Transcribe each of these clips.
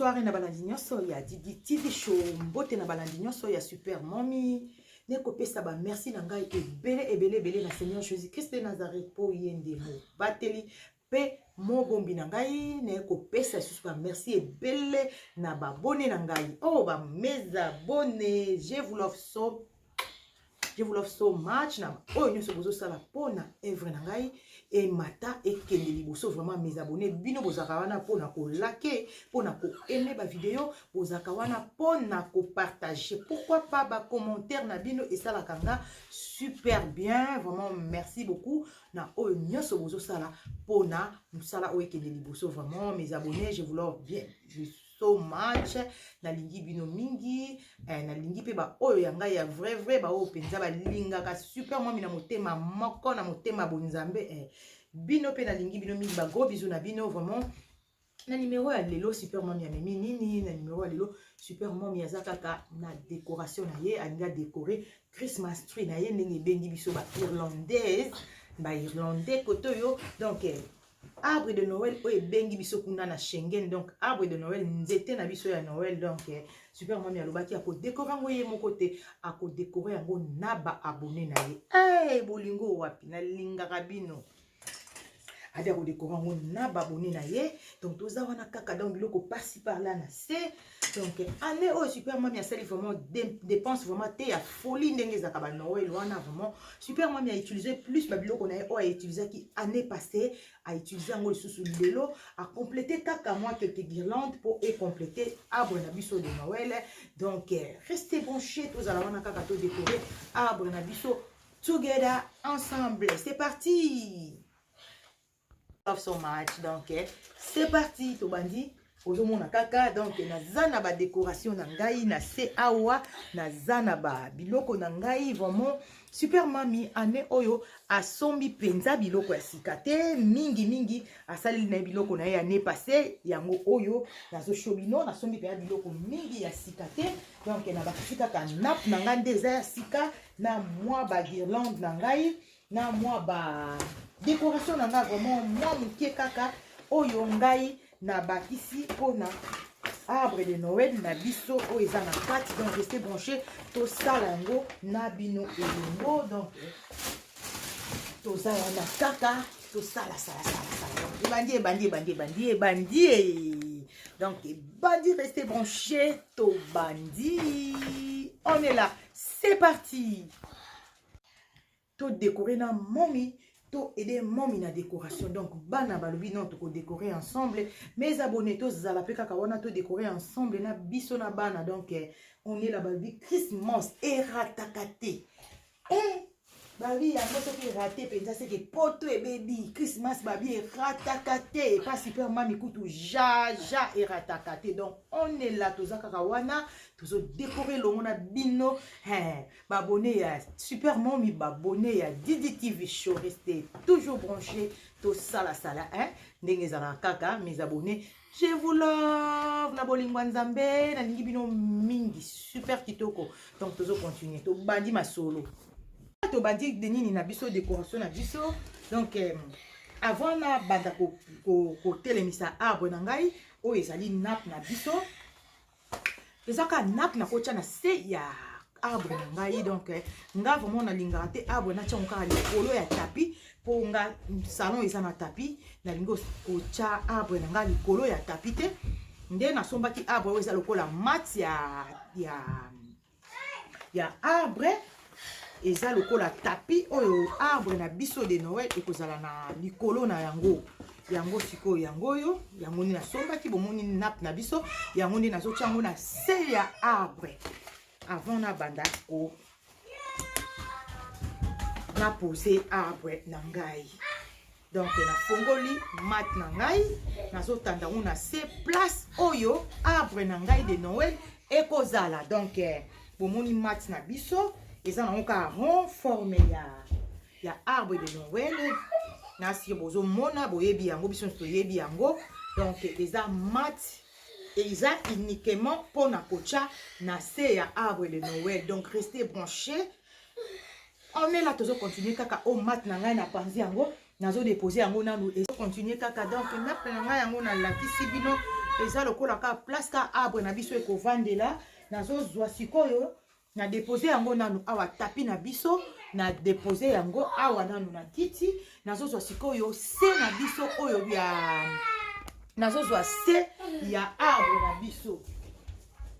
soirée na balandi nyonso ya Didi TV show mbote na balandi nyonso ya super mommy ne kopesa ba merci na ngai ebele ebele ebele na seigneur jésus christ de nazareth mpo ye nde mobateli mpe mobombi na ngai naye kopesa lisusu ba merci ebele na babone na ngai o oh, ba mes abone je vous love so je vous love so much na oyo nyonso bozosala mpo na evre na ngai emata ekende liboso vraiment mes abone bino bozalaka wana mpo na kolake mpo na koaime bavideo bozalaka wana mpo na kopartage pourquoi pas bacommentaire na bino esalaka nga super bien vraiment merci beaucoup na oyo nyonso bozosala mpo na mosala oyo ekende liboso vraiment mes abonnés je vous love bien so much nalingi bino mingi eh, nalingi mpe baoyo ya ngai ya vrai vrai baoyo mpenza balingaka super mwami na motema moko na motema bonzambe eh. bino mpe nalingi bino mingi bagros bizu na bino vraiment na numero ya lelo super mami amemi nini na numero ya lelo super mami aza kaka na décoration na ye alingi adécore christmas tree na ye ndenge ebengi biso ba irlandaise ba irlandais kote oyo donc eh, arbre de noël oyo ebengi biso kuna na schengen donc arbre de noël nzete na biso ya noël donc eh, super mami alobaki akodekore yango ye moko te akodekore yango na baabone na ye hey, eh, bolingo wapi nalingaka bino ade akodekora yango na babone na ye donc toza wana kaka donc biloko pasi par là na se donc année oyo super mami asali vraiment dépense vraiment te ya folie ndenge ezalaka ba noel wana vraiment super mami a utilise plus babiloko na ye oyo autilisaki année passée autilise yango lisusu lelo acomplete kaka mwa quelque guirlande mpo ecomplete arbre na biso de noel donc reste branché tozala wana kaka todekore arbre na biso Together ensemble, c'est parti. Love so much donc eh, c'est parti tobandi ozomona kaka donc naza na badécoration na ngai na se awa naza na ba biloko na ngai vraiment super mami année oyo asombi mpenza biloko ya sika te mingi mingi asaleli na ye biloko na ye année passé yango oyo nazosho bino nasombi mpenza biloko mingi ya sika te donc nabakisi kaka nap na ngai nde eza ya sika na mwa ba guirlande na ngai na mwa ba decoration na ngai vraiment mwa moke kaka oyo ngai nabakisi mpona arbre de noël na biso oyo eza na kati donc reste branché tosala yango na bino elongo donc toza wana kaka tosala salasalasala ebandi ebandi ebandi ebandi ebandi donc ebandi reste branché tobandi on est là c'est parti to décorer na momi to aide momi na décoration donc bana balobi non toko décorer ensemble mes abonnés tozala mpe kaka wana to décorer ensemble na biso na bana donc eh, on est là balobi christmas erataka te eh, babi yango soki erate mpenza seke poto ebebi christmas babi erataka te epa super mami kutu jaja erataka te donc on est là toza kaka wana tozodekore elongo na bino babone ya super mami babone ya didi tv show reste toujours branché tosalasala ndenge ezalaka kaka mes abonne Je vous love na bolingo ya Nzambe, nalingi bino mingi, super kitoko. Donc tozo continuer, tobandi masolo. Tobandi de nini na biso décoration na biso. Donc euh, avant na banda ko, ko, ko telemisa arbre na ngai oyo ezali nappe na biso. eza kaka nap nakotya na se ya arbre na ngai donc eh, nga vraiment nalingaka te arbre natyango kaka likolo ya tapi mpo nga salon eza na tapi nalingi kotya arbre na ngai likolo ya tapi te nde nasombaki arbre oyo eza lokola mati ya, ya ya arbre eza lokola tapi oyo arbre na biso de noel ekozala na likolo na yango yango sikoyo yango oyo yango nde nasombaki bomoni nape na biso yango nde nazotya yango na se ya arbre avant nabanda ko napose arbre na ngai donc nafongoli mat na ngai nazotanda ngo na se place oyo arbre na ngai de noel ekozala donc eh, bomoni mat na biso eza nango kaka rond forme ya, ya arbre de noel nasi bozomona boyebi yango biso nyonso toyebi yango donc eza mat eza uniquement mpo na kotya na se ya arbre de noel donc reste branché on est là tozo continuer kaka o oh, mat na ngai na panzi yango nazo dépose yango nanu ezo continuer kaka donc map na ngai yango nalakisi bino eza lokola kaka place ka arbre na biso ekovandela nazozwa sikoyo na dépose yango nanu awa tapi na biso na dépose yango awa nanu na kiti nazozwa sikoyo se na biso oyo ya nazozwa se ya arbre na biso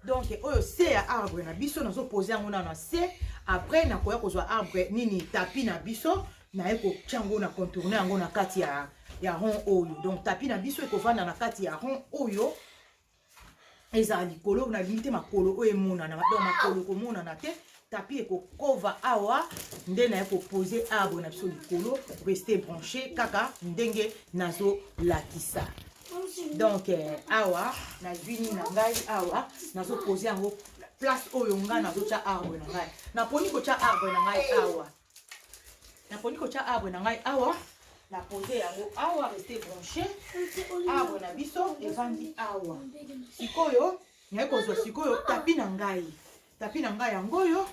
donc oyo se ya arbre na biso nazopose yango nano se après nakoya kozwa arbre nini tapi na biso naye kotya yango na contourne yango na kati ya, ya rond oyo donc tapi na biso ekovanda na kati ya rond oyo ezala likolo nalingi te makolo oyo emonana donc makolo ekomonana te tapi ekokova awa nde naye kopose abo na biso likolo reste branche kaka ndenge nazolakisa donc eh, awa nazwi nini na ngai awa nazopose yango place oyo ngai nazotya arbre na ngai naponi kotya arbre na ngai awa naponi kotya arbre na ngai awa na pose yango awa reste branche arbre na biso evandi awa sikoyo naye kozwa sikoyo tapi na ngai Tapi na ngai yango oyo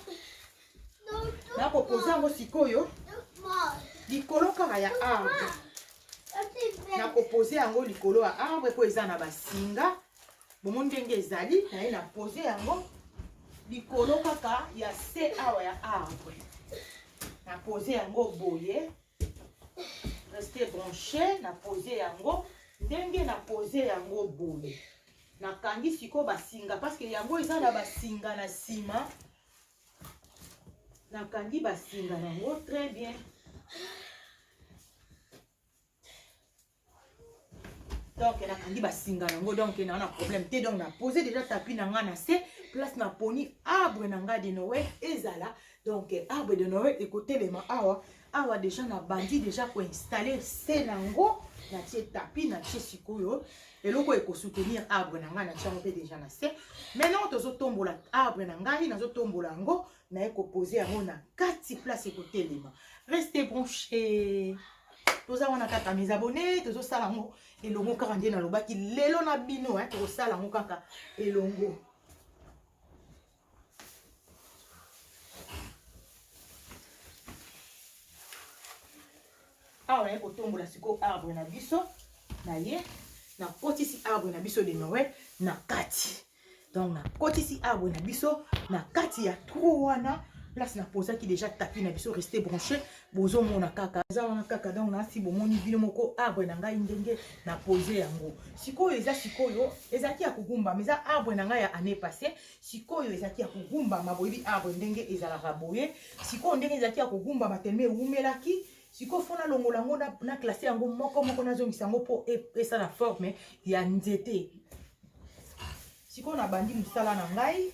nakopoza yango sikoyo likolo kaka ya arbre nakopoze yango likolo ya arbre mpo eza na basinga bomo ndenge ezali naye na poze yango likolo kaka ya se awa ya arbre na poze yango boye reste branche na poze yango ndenge na poze yango boye nakangi sikoyo basinga parceke yango eza na basinga na nsima nakangi basinga nango très bien donc nakangi basinga yango donc naa na problème te donc na pose déjà tapi na ngai na se place naponi arbre na ngai de noel ezala donc arbre de noel ekotelema awa awa deja nabandi deja koinstalle se na yango natie tapi natie sikoyo eloko oyo ekosoutenir arbre na ngai natie yango mpe deja na se maintenant tozotombola arbre na ngai nazotombola yango naye kopose yango na kati place ekotelema reste branche toza wana kaka mes abonne tozosala yango elongo kaka nde nalobaki lelo na bino tokosala yango kaka elongo awa naye kotombola sikoyo arbre na biso na ye nakotisi arbre na biso de noel na kati donc nakotisi arbre na biso na kati ya trou wana place napozaki déjà tapi na biso reste branché bozomona kaka eza wana kaka donc nasi bomoni bino moko arbre na ngai ndenge na pose yango sikoyo eza sikoyo ezalaki ya kogumbama eza arbre na ngai ya année passé sikoyo ezalaki ya kogumbama boyebi arbre ndenge ezalaka boye sikoyo ndenge ezalaki ya kogumbama telema ewumelaki sikoyo fo nalongola yango na classe yango moko moko nazongisa yango mpo e, esala forme ya nzete sikoyo nabandi mosala na ngai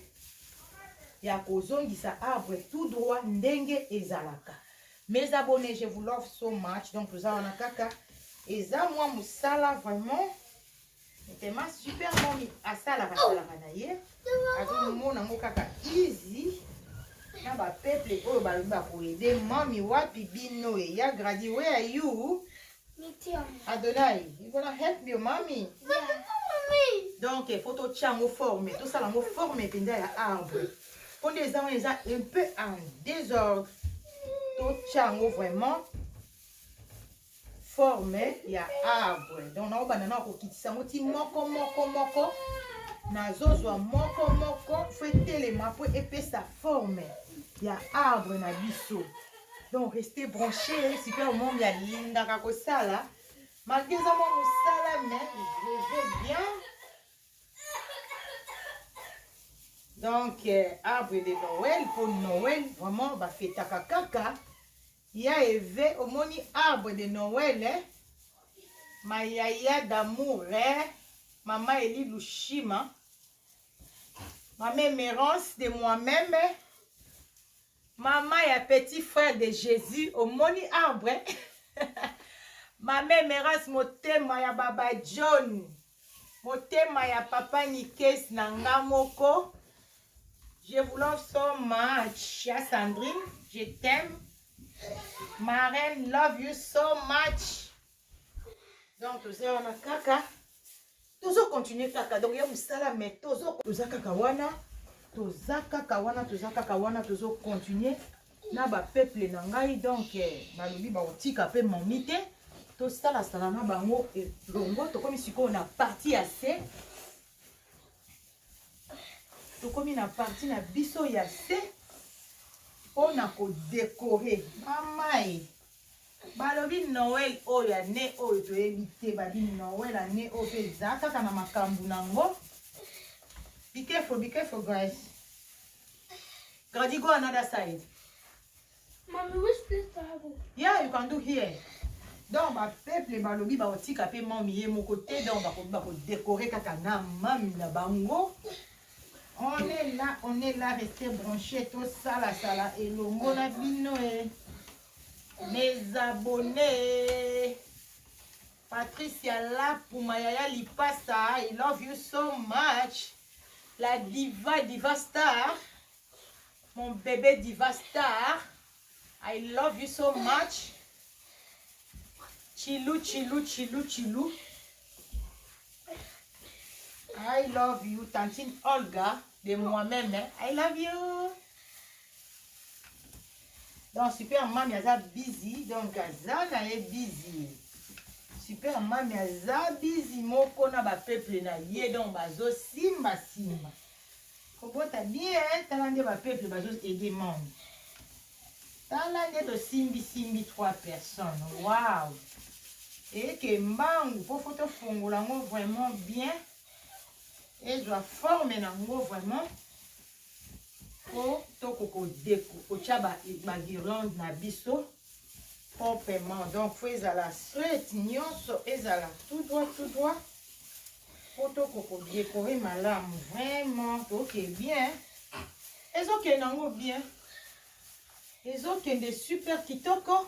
ya kozongisa arbre tout droit ndenge ezalaka mes abonnés je vous love so much donc toza wana kaka eza mwa mosala vraiment Tema super momi asalaka asalaka na ye azomona yango kaka easy na bapeuple oyo balobi bakoede mami wapi bino eya gradi where are you adonai you gonna help your mommy yeah. donc fo totya yango forme tosala yango forme mpenza ya arbre mpo nde eza wana eza un peu en désordre totya yango vraiment forme ya arbre donc nakobanda na kokitisa yango ti moko moko moko nazozwa moko moko fo etelema mpo epesa forme ya arbre na biso donc reste branche super mom ya lingaka kosala malgre eza mwa mosala mais je vais bien donc euh, arbre de noël mpo noël vraiment bafetaka kaka Ya eve omoni arbre de Noël eh ma yaya d'amour eh maman Elie Lushima maman Emerance de moi meme maman ya petit frère de Jesus omoni arbre maman Emerance motema ya baba John Motema ya papa Nikes na nga moko. Je vous love so much. Ya Sandrine, je t'aime. Ma reine, love you so much. Donc, toza wana kaka. Tozo continuer kaka. Donc, ya musala mais tozo toza kaka wana. Toza kaka wana, toza kaka wana, tozo continuer. na ba peuple na ngai donc eh, balobi bakotika pe momi te tosalasala na bango elongo tokomi sikoyo na parti ya se tokomi na parti na biso ya se mpo na kodekore mamae balobi noel oyo ya ne oyo toyebi te babi noel ya ne oyo mpe eza kaka na makambo na yango bikefo bikefo grace Grady, go another side. Mommy, which place to have it? Yeah, you can do here. donc bapeuple balobi bakotika mpe mami ye moko te donc bakobi bakodekore kaka na mami na bango on est là on est là reste branché tosalasala elongo na bino e mes abonnés Patricia Lapu ma yaya lipasa I love you so much la diva diva star mon bébé diva star I love you so much Chilou Chilou Chilou Chilou I love you tantine Olga de moi-même I love you donc super mami aza bizi donc aza na ye bizi super mami aza bizi moko na bapeple na ye donc bazosimba simba kobota bien eh, tala nde bapeple bazoede mami tala nde tosimbisimbi trois personnes wow eke mbangu mpo fo tofongola yango vraiment bien ezwa forme na yango vraiment po toko ko deko kotia ba ba guirlande na biso proprement donc faut ezala straight nyonso ezala tout droit tout droit po toko ko decore malamu vraiment toke bien ezokende yango bien ezokende super kitoko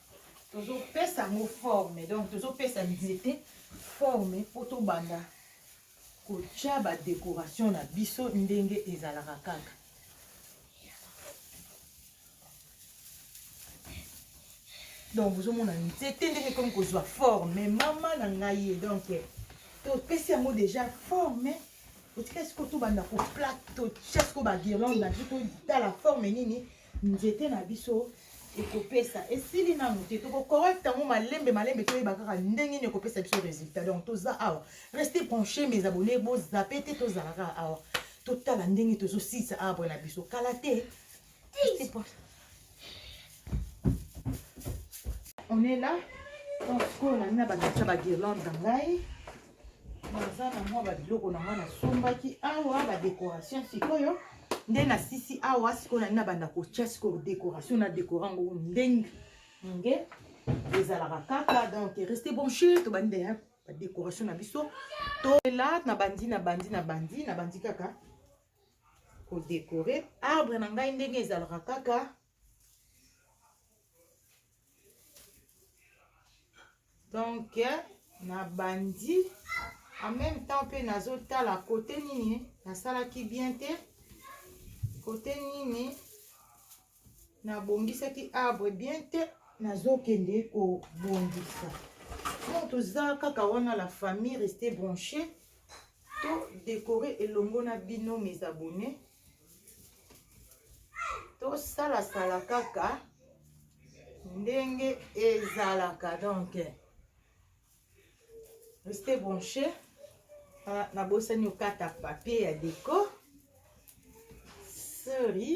tozopesa yango forme donc tozopesa nzete forme mpo tobanda kotya badekoration na biso ndenge ezalaka kaka donc bozomona nzete ndenge ekomi kozwa forme mama na ngai ye donc topesi yango déjà forme otika sikoyo tobanda koplate totya sikoyo bagirlande na biso totala forme nini nzete na biso ekopesa esili nanu te tokocorrecte yango malembe malembe toyeba kaka ndenge nini ekopesa biso résultat donc toza awa reste branché mes abonné bozape te tozala kaka awa totala ndenge tozosilisa arbre na biso kala te on est là donc sikoyo nani na bandakisa baguirlande na ngai naza na mwa babiloko na ngai nasombaki awa badekoration sikoyo nde na sisi awa sikoyo nani nabanda kotya sikoyo dekoration na dekora yango ndenge nge ezalaka kaka donc reste bonche tobandi deya badekoration na biso tola nabandi nabandi nabandi nabandi kaka kodekore arbre na ngai ndenge ezalaka kaka donc nabandi en même temps mpe nazotala kote nini nasalaki bien te kote nini nabongisaki arbre bien te nazokende kobongisa donc toza kaka wana la famille reste branche to décorer elongo na bino mes abonnés tosalasala kaka ndenge ezalaka donc reste branche ah, nabosani okata papier ya deco sorry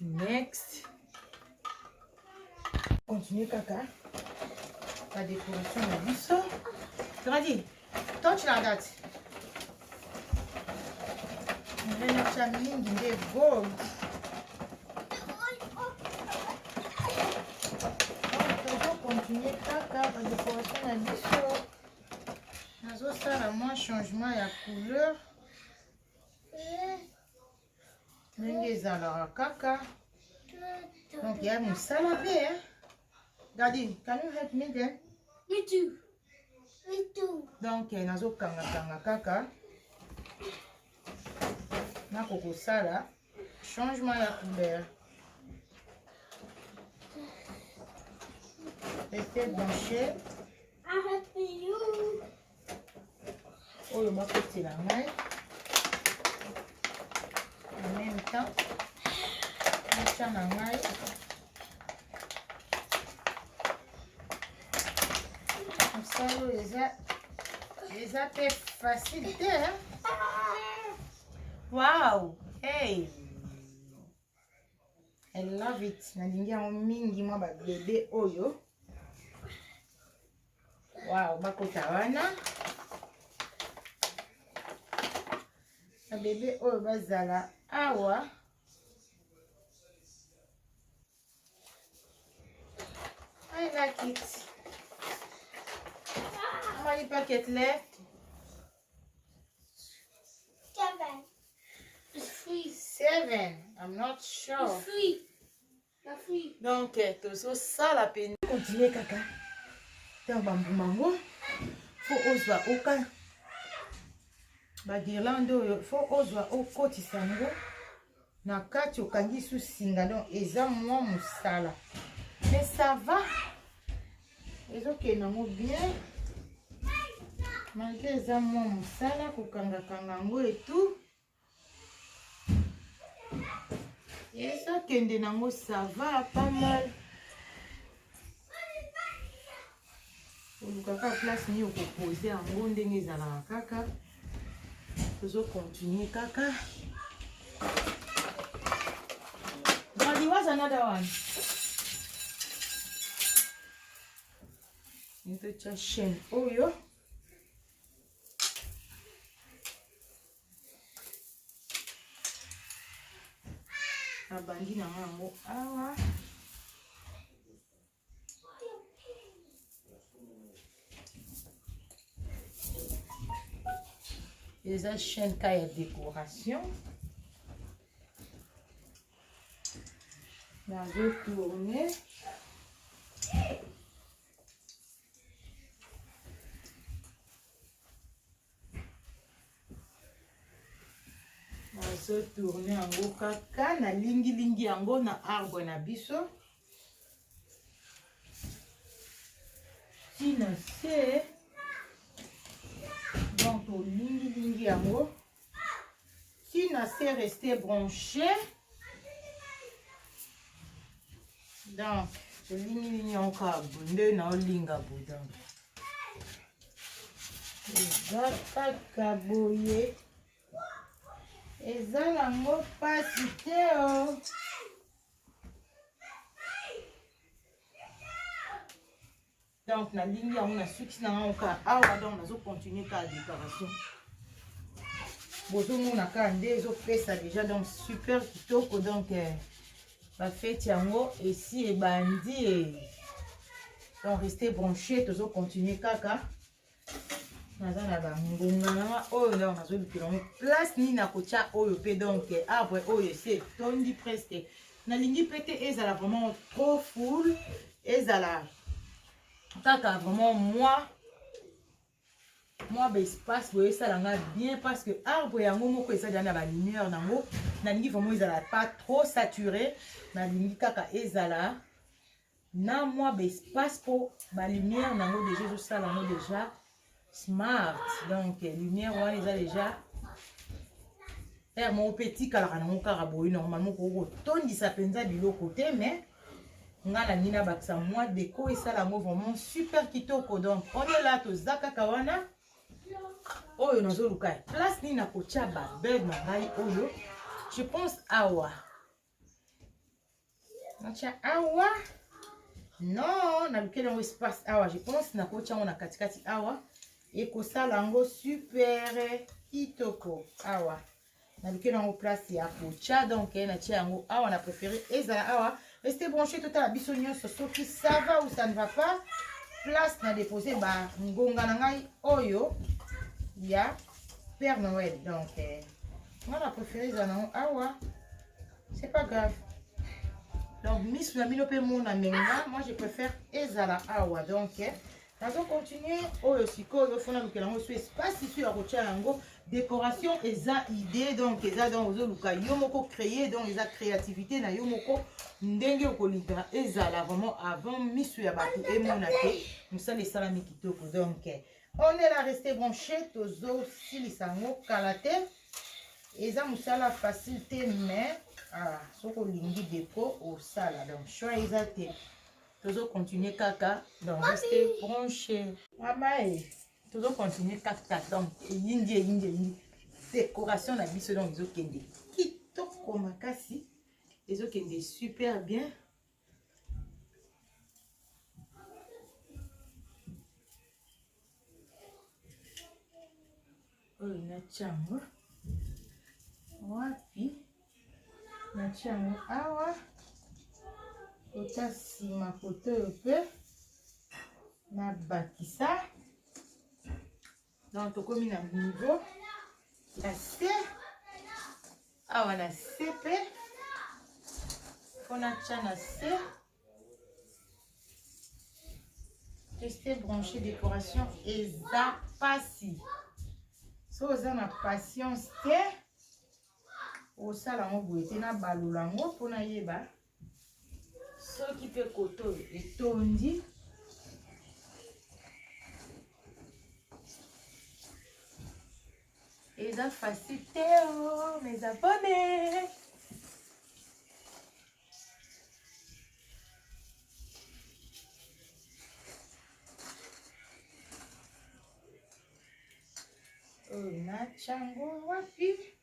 next continue kaka ba décoration na biso tokadi touch na date nalelakisa mingi nde gold continue kaka ba décoration na biso nazosala mwa changement ya couleur ndenge ezalaka kaka donc ya mosala mpe eh. gadi can you help me then me too me too donc eh, nazokangakanga kaka nakokosala changement ya couleur ete blanche oyo bakotela ngai en même temps natya na ngai mosala oyo eza eza mpe facile te hein? Wow! Hey! I love it nalingi yango mingi mwa babebe oyo wow bakota wana babebe oyo bazala awa I like it. How many packet left? Seven. I'm not sure. Donc, eh, tozosala mpenza. Continue kaka. Ntango bambuma yango, fo ozwa oka bagirlande oyo, fo ozwa okotisa yango. na kati okangi su singa donc eza mwa mosala mais ça va ezokende nango bien malgre eza mwa mosala kokangakanga yango etou ezokende nango ça va pas mal oluka kaka place nini okopose yango ndenge ezalaka kaka tozo continue kaka Daddy, what's another one? Nitotya chaîne oyo oh, nabandi na yango awa ah, eza chaîne ka ya décoration nazo tourne nazo tourne yango kaka nalingilingi yango na arbre na biso ti na se donc olingilingi yango ti na se reste branche donc olingilingi yango kaka bonde na olinga bodan eza kaka boye eza nango mpasi te o oh. donc nalingi yango nasuki na ngango kaka awa donc nazocontinue kaka décoration bozomona kaka nde ezopesa déjà donc super kitoko donc eh, bafeti yango esi ebandi eh. donc reste branché tozocontinue kaka naza na bangonga nanga oyo ndako nazolukela yango place nini nakotya oyo mpe donc arbre oyo esi etondi presque nalingi mpe te ezala vraiment trop full ezala kaka vraiment mwa mwa baespace boye esala nga bien parce que arbre yango moko eza deya na balumière nango nalingi vraiment ezala pas trop saturé nalingi kaka ezala na mwa ba espace mpo ba lumière na yango deja ezosala yango deja smart donc lumière wana eza deja heure moko mpe etikalaka nango kaka boye normalement okoki kotondisa mpenza biloko te mais nga nalingi nabakisa mwa deko esala yango vraiment super kitoko donc on est là toza kaka wana oyo nazoluka place nini nakotya babed na ngai oyo je pense awa natya awa non nalukeli yango espace awa je pense nakotya yango na katikati awa ekosala yango super kitoko awa nalukeli yango place ya kotya donc eh, natya yango awa na préféré ezala awa reste branche totala biso nyonso soki ça va ou ça ne va pas place na dépose bangonga na ngai oyo ya père noël donc eh, Nga na prefere eza nango awa. C'est pas grave. Donc, misu na bino pe mona menga. Moi, je préfère ezala awa. Donc, eh, nazo continuer oyo sikoyo fona lukela yango so espace isu ya kotia yango décoration eza idée donc eza donc ozoluka yo moko créer donc eza créativité na yo moko ndenge okolinga ezala vraiment avant misu ya bato emona te mosala esalami kitoko donc eh, On est là, restez branchés. Tozo silisa ngo kala te. Eza musala facile te mais ah soki olingi deko osala donc choix eza te. Tozo continuer kaka donc restez branchés. Mama e tozo continuer kaka donc eyindi eyindi eyindi décoration na biso donc ezokende kitoko makasi ezokende super bien. oyo natya yango wapi natya yango awa kota nsima koto oyo mpe nabakisa donc tokomi na niveau ya se awa na se mpe mpo natya na se teste branche décoration eza mpasi so oza na patience te osala yango boye te nabalola yango mpo nayeba soki mpe koto oyo etondi eza facile te o oh, mes abonnés oyo oh, natyango wapi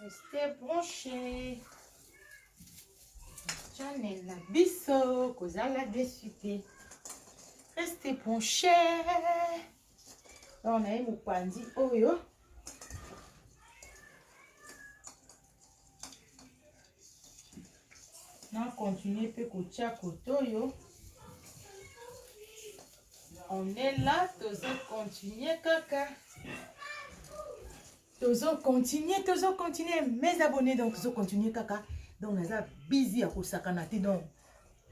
Restez branchés. Channel na biso kozala desu te. Restez branchés. Donc na ye mopanzi oyo na continue mpe kotya kote oyo on est là tozo continue kaka tozo continuer tozo continuer mes abonnés donc tozo continuer kaka donc naza busy ya kosakana te donc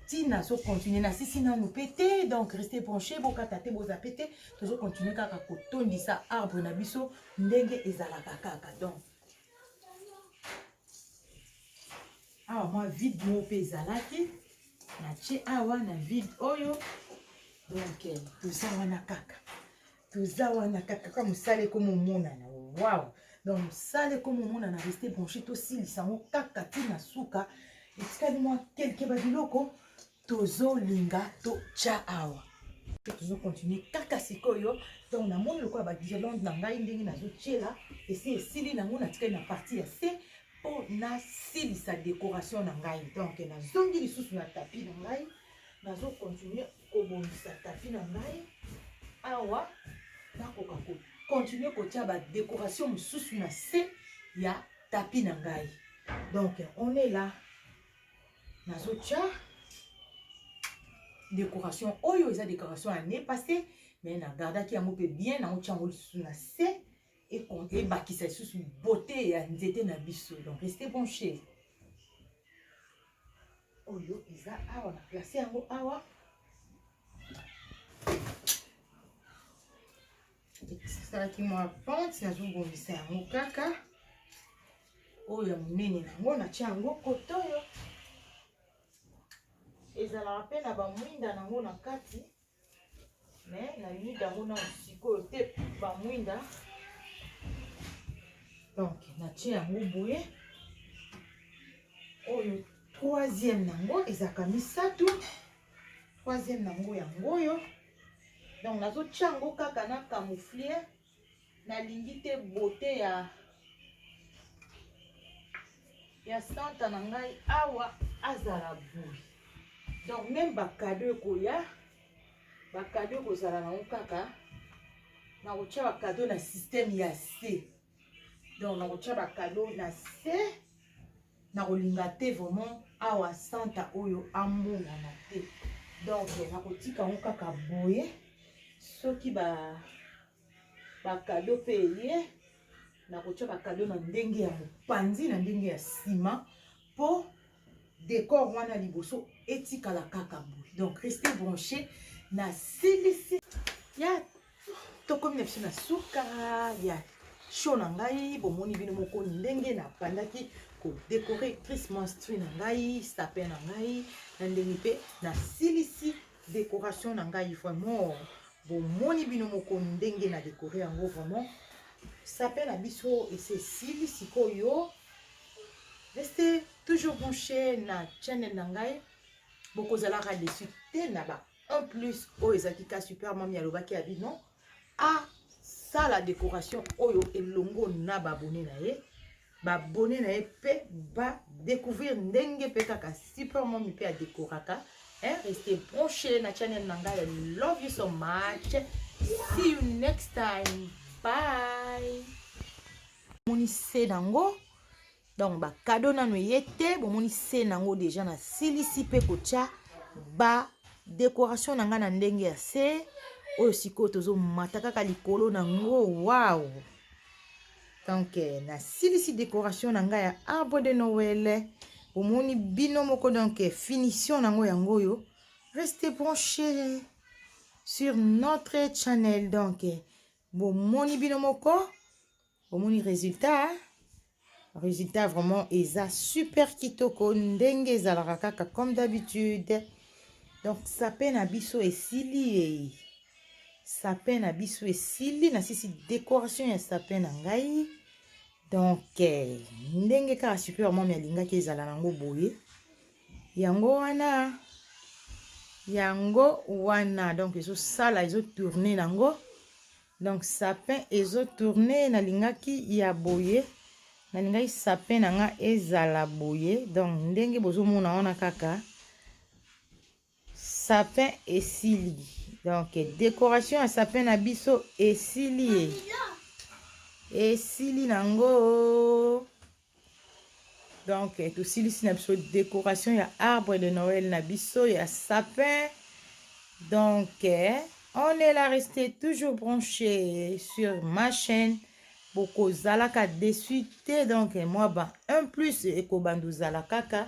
ntina so continue nasisi nanu mpe te donc reste branche bokata te boza mpe te tozo continue kaka kotondisa arbre na biso ndenge ezalaka kaka donc awa mwa vide moko mpe ezalaki natie awa na vide oyo donc toza wana kaka toza wana kaka kaka mosala ekomomonana waw donc mosala ekomomonana reste branche tosilisa yango kaka ti na suka etikali mwa kelke babiloko tozolinga totya awa mpe tozokontinue kaka sikoyo donc namoni lokola baguirlande na ngai ndenge nazotyela esi esili nango natikali na parti ya se mpo nasilisa décoration na ngai donc nazongi lisusu na tapi na ngai nazokontinue kobongisa tapi na ngai awa nakoka ko continue kotya badekoration mosusu na se ya tapi na ngai donc on est là nazotya décoration oyo eza décoration ya ne passé mais na gardaki yango mpe bien nango tya yango lisusu na se ebakisa lisusu beauté ya nzete na biso donc reste bon chez oyo eza awa na place yango awa esalaki mwa pente nazobongisa yango kaka oyo ya monene nango natya yango koto oyo ezalaka mpe na bamwinda nango na kati me na nuit yango na sikoyo te bamwinda donc natie yango boye oyo troisième nango ezalaka misato troisième nango yango oyo donc nazotia yango kaka na camouflier nalingi te beauté ya ya santa na ngai awa azala boye donc meme bakado ekoya bakado ekozala nango kaka nakotya bakado na systeme ya se donc nakotya bakado na se nakolinga te vraiment awa santa oyo amonana te donc nakotika yango kaka boye soki ba bakado mpe eye nakotya bakado na ndenge ya mopanzi na ndenge ya nsima mpo decor wana liboso etikala kaka boye donc reste branche nasilisi ya tokomi na biso na suka ya show na ngai bomoni bino moko ndenge nabandaki kodekore cris monstri na ngai sapin na ngai na ndenge mpe nasilisi decoration na ngai vraiment bomoni bino moko ndenge na dekore yango vraiment sapin na biso esi esili sikoyo reste toujours branche na channel na ngai bokozalaka desu te na ba en plus oyo ezalaki ka super mami alobaki abi non asala décoration oyo elongo na babone na ye babone na ye mpe badécouvrir ndenge mpe kaka super mami mpe adécoraka hein, reste branché na channel na ngai love you so much see you next time bye monise nango donc ba cadeau nanu eye te bomoni se nango deja nasilisi mpe kotya ba decoration na ngai na ndenge ya se oyo sikoyo tozomata kaka likolo na yango wow donc eh, nasilisi decoration na ngai ya arbre de noel bomoni bino moko donc eh, finition na yango yango oyo reste branché sur notre channel donc eh, bomoni bino moko omoni resultat resultat vraiment eza super kitoko ndenge ezalaka kaka comme d'habitude donc sapin na biso esili ye sapin na biso esili nasisi décoration ya sapin na ngai donc eh, ndenge kaka super mami alingaki ezala nango boye yango wana yango wana donc ezosala ezotourne nango donc sapin ezo tourne nalingaki ya boye nalingaki sapin na nga ezala boye donc ndenge bozomona wana kaka sapin esili donc decoration ya sapin na biso esili ye esili nango donc eh, tosilisi na biso décoration ya arbre de noël na biso ya sapin donc eh, on est là rester toujours branché sur ma chaîne bokozalaka dessus te donc eh, moi ba un plus ekobanda ozala kaka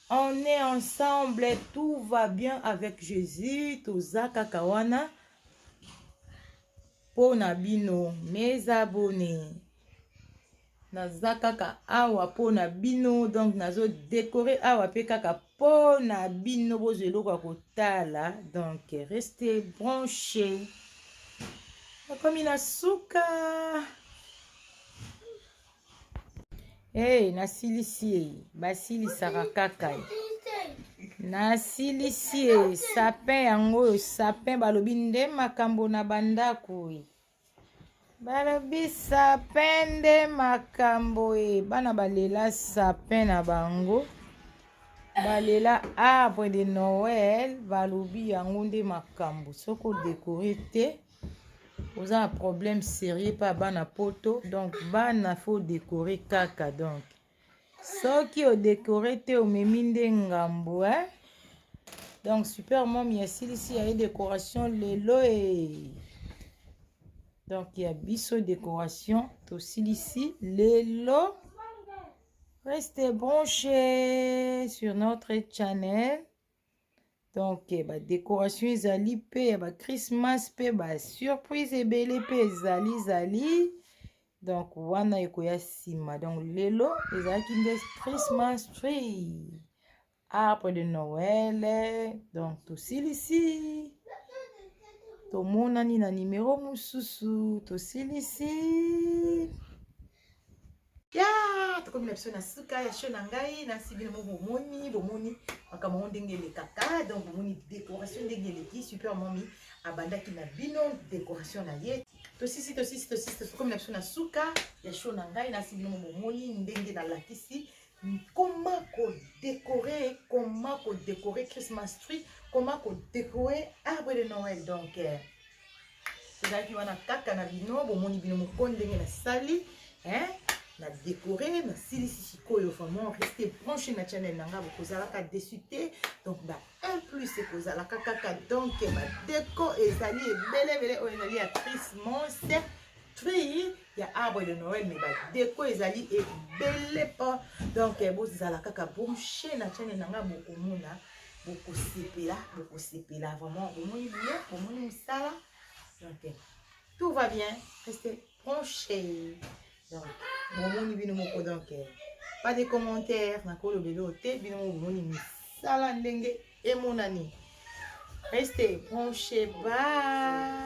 on est ensemble tout va bien avec jésus toza kaka wana mpo na bino mes abonnés naza kaka awa mpo na bino donc nazo dekore awa mpe kaka mpo na bino bozwa eloko ya kotala donc reste branche nakomi na suka hey, nasilisi ye basilisaka kaka ye nasilisi ye sapin yango oyo sapin balobi nde makambo na bandako ye balobi sapin nde makambo ye bana balela sapin na bango balela arbre de noel balobi yango nde makambo soki odekore te oza na problème sérieux mpa bana poto donc bana faut dekore kaka donc soki odekore te omemi nde ngambo eh? donc super mom ya silisi ya ye décoration lelo e donc ya biso décoration tosilisi lelo reste branché sur notre channel donc eh, badecoration ezali mpe ya bachristmas mpe basurprise ebele mpe ezali zali donc wana ekoya nsima donc lelo ezalaki nde christmas tree arbre de noel donc tosilisi tomonani na nimero mosusu tosilisi ya tokomi na biso na suka ya show na ngai nasi bino mo bomoni bomoni makambo yango ndenge elekaka donc bomoni décoration ndenge eleki super momi abandaki na bino décoration na ye tosisi tosisi tosisi tokomi na biso na suka ya show na ngai nasi bino mo bomoni ndenge nalakisi comment ko décorer comment ko décorer christmas tree comment ko décorer arbre de noël donc eh, ezalaki wana kaka na bino bomoni bino moko ndenge nasali hein na décoré nasilisi sikoyo vraiment reste branche na channel na ngai bokozalaka desu te donc ba un plus ekozalaka kaka donc badeko ezali ebelebele oyo ezali ya trismos tri ya arbre de noël mais ba deco ezali ebele po donc eh, bozala kaka branche na chane na ngai bokomona bokosepela bokosepela vraiment bomoni biye bomoni mosala donc eh, tout va bien reste branche donc bomoni bino moko donc eh, pas de commentaire nakolobela oyo te bino moko bomoni misala ndenge emonani reste branche ba